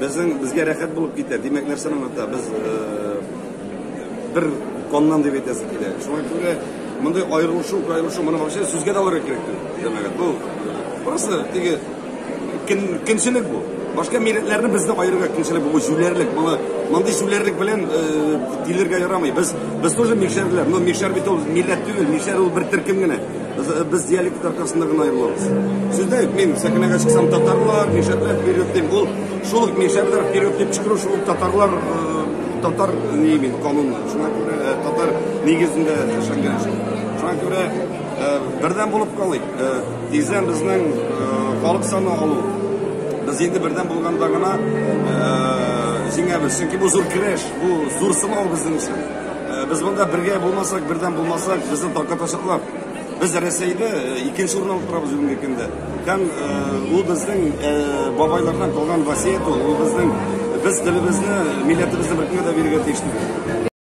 Безнең безгә рәхәт булып китә. Димәк, нәрсәне аңлата? Без бер коннан дип әйтәсе килә. Шуңа күрә мондый аерылышу, аерылышу моны вообще сүзгә дә алырга кирәк түгел. Димәк, бу просто теге кемчелек бу. Башка милләтләрне безне аерырга кемчелек бу җүләрлек. Моны мондый җүләрлек белән дилергә ярамый. Без без тоже мишәрләр. Но мишәр бит ул милләт түгел, мишәр ул бер төркем генә. Без диалект аркасында гына аерылабыз. Сездә мин сәхнәгә чыксам татарлар, мишәрләр вперед дип ул шул ук мишәрләр вперед дип чыгу шул ук татарлар э, татар ни мин канун. Шуңа күрә э, татар нигезендә эшләнгән эш. Шуңа күрә э, бердәм булып калыйк. Тиздән безнең халык саны алу. Без инде бердәм булганда гына җиңәбез. Чөнки бу зур көрәш, бу зур сынау безнең өчен. Без монда бергә булмасак, бердәм булмасак, безне таркатачаклар. Без Рәсәйдә икенче урын алып торабыз бүгенге көндә. Һәм ул безнең бабайлардан калган васыять ул, ул безнең без телебезне, милләтебезне беркемгә дә бирергә тиеш түгел.